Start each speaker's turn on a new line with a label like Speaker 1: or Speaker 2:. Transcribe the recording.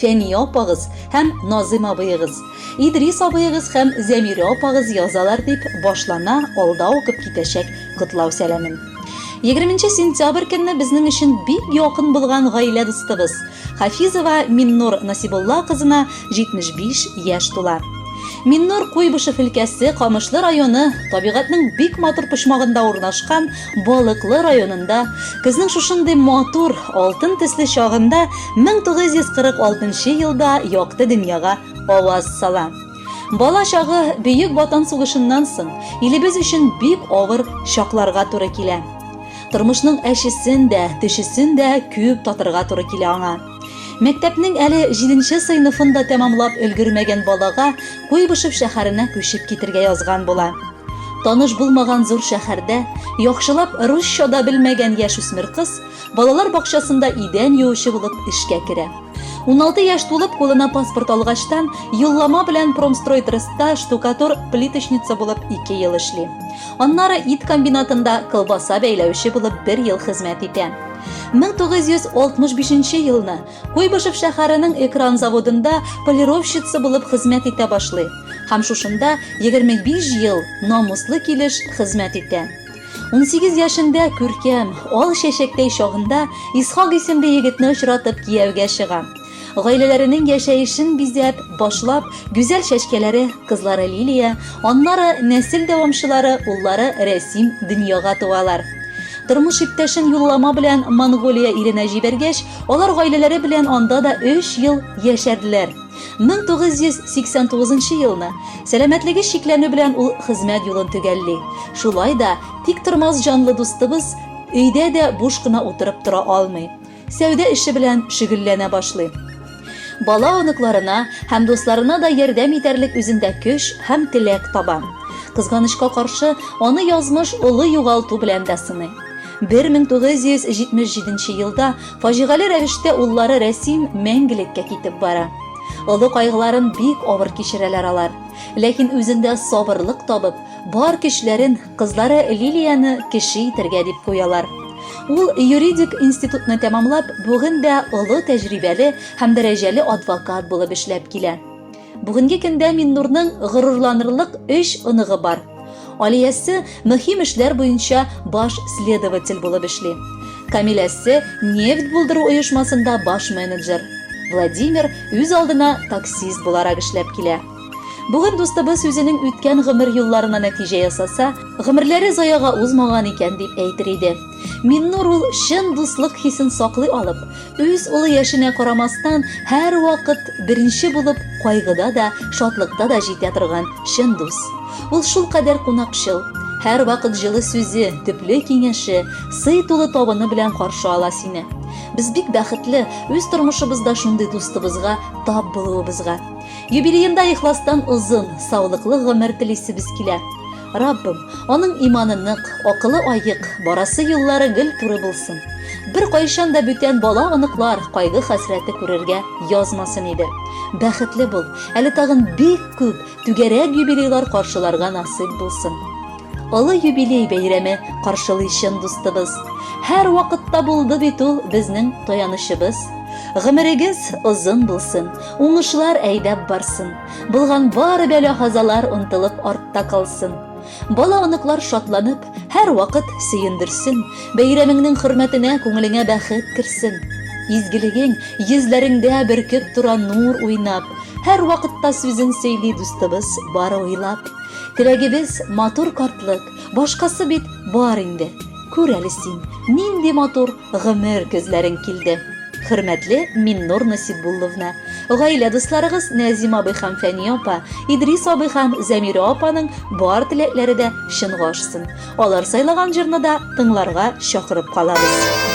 Speaker 1: Фәния апагыз һәм Назыйм абыегыз, Идрис абыегыз һәм Зәмирә апагыз язалар, дип башлана алда укып китәчәк котлау сәламем. Егерменче сентябрь көнне безнең өчен бик якын булган гаилә дустыбыз, Хафизова Миннур Насибулла кызына 75 яшь тула. Миннур Куйбышев өлкәсе Камышлы районы табигатьнең бик матур почмагында урнашкан Балыклы районында көзнең шушындый матур, алтын төсле чагында 1946 елда якты дөньяга аваз сала. Бала чагы Бөек Ватан сугышыннан соң илебез өчен бик авыр чакларга туры килә. Тормышның әчесен дә, төчесен дә күп татырга туры килә аңа. Мәктәпнең әле җиденче сыйныфын да тәмамлап өлгермәгән балага Куйбышев шәһәренә күчеп китергә язган була. Таныш булмаган зур шәһәрдә яхшылап русча да белмәгән яшүсмер кыз балалар бакчасында идән юучы булып эшкә керә. Уналты яшь тулып, кулына паспорт алгачтан, юллама белән Промстройтреста штукатур-плиточница булып ике ел эшли. Аннары ит комбинатында колбаса бәйләүче булып бер ел хезмәт итә. 1965 елны Куйбышев шәһәренең Экран заводында полировщица булып хезмәт итә башлый һәм шушында 25 ел намуслы килеш хезмәт итә. Унсигез яшендә күркәм, ал чәчәктәй чагында Исхак исемле егетне очратып кияүгә чыга. Гаиләләренең яшәешен бизәп, башлап, гүзәл чәчкәләре, кызлары Лилия, аннары нәсел дәвамчылары, уллары Рәсим дөньяга туалар. Тормыш иптәшен юллама белән Монголия иленә җибәргәч, алар гаиләләре белән анда да өч ел яшәделәр. 1989 нчы елны, сәламәтлеге чикләнү белән ул хезмәт юлын төгәлли. Шулай да тиктормас җанлы дустыбыз өйдә дә буш кына утырып тора алмый. Сәүдә эше белән шөгелләнә башлый. Бала оныкларына һәм дусларына да ярдәм итәрлек үзендә көч һәм теләк таба. Кызганычка каршы, аны язмыш олы югалту белән дә сыный. 1977 елда фаҗигале рәвештә уллары Рәсим мәңгелеккә китеп бара. Олы кайгыларын бик авыр кичерәләр алар. Ләкин үзендә сабырлык табып, бар көчләрен Кызлары Лилияне кеше итәргә дип куялар. Ул юридик институтны тәмамлап, бүген дә олы тәҗрибәле һәм дәрәҗәле адвокат булып эшләп килә. Бүгенге көндә Миннурның горурланырлык өч оныгы бар. Алиясе мөһим эшләр буенча баш следователь булып эшли. Камиләсе нефть булдыру оешмасында баш менеджер. Владимир үз алдына таксист буларак эшләп килә. Бүген дустыбыз үзенең үткән гомер юлларына нәтиҗә ясаса, гомерләре заяга узмаган икән дип әйтер иде. Миннур ул чын дуслык хисен саклый алып, үз улы яшенә карамастан, һәрвакыт беренче булып кайгыда да, шатлыкта да җитә торган чын дус. Ул шулкадәр кунакчыл, һәрвакыт җылы сүзе, төпле киңәше, сый тулы табыны белән каршы ала сине. Без бик бәхетле үз тормышыбызда шундый дустыбызга тап булуыбызга. Юбилеенда ихластан озын, саулыклы гомер телисебез килә. Раббым, аның иманы нык, акылы аек, барасы юллары гел туры булсын. Беркайчан да бүтән бала-оныклар кайгы-хәсрәте күрергә язмасын иде. Бәхетле бул, әле тагын бик күп түгәрәк юбилейлар каршыларга насыйп булсын. Олы юбилей бәйрәме каршылый чын дустыбыз. Һәр вакытта булды бит ул безнең таянычыбыз. Гомерегез озын булсын. Уңышлар әйдәп барсын, булган бары бәла-хазалар онтылып артта калсын. Бала-оныклар шатланып, һәрвакыт сөендерсен, бәйрәмеңнең хөрмәтенә күңелеңә бәхет керсен. Изгелегең йөзләреңдә бөркеп тора нур уйнап, һәрвакытта сүзен сөйли дустыбыз бары уйлап. Теләгебез, матур картлык, башкасы бит бар инде. Күр әле син, нинди матур гомер көзләрең килде. Хөрмәтле Миннур Насибулловна, гаилә дусларыгыз Нәзим абый һәм Фәния апа, Идрис абый һәм Зәмирә апаның бар теләкләре дә чынга ашсын. Алар сайлаган җырны да тыңларга чакырып калабыз.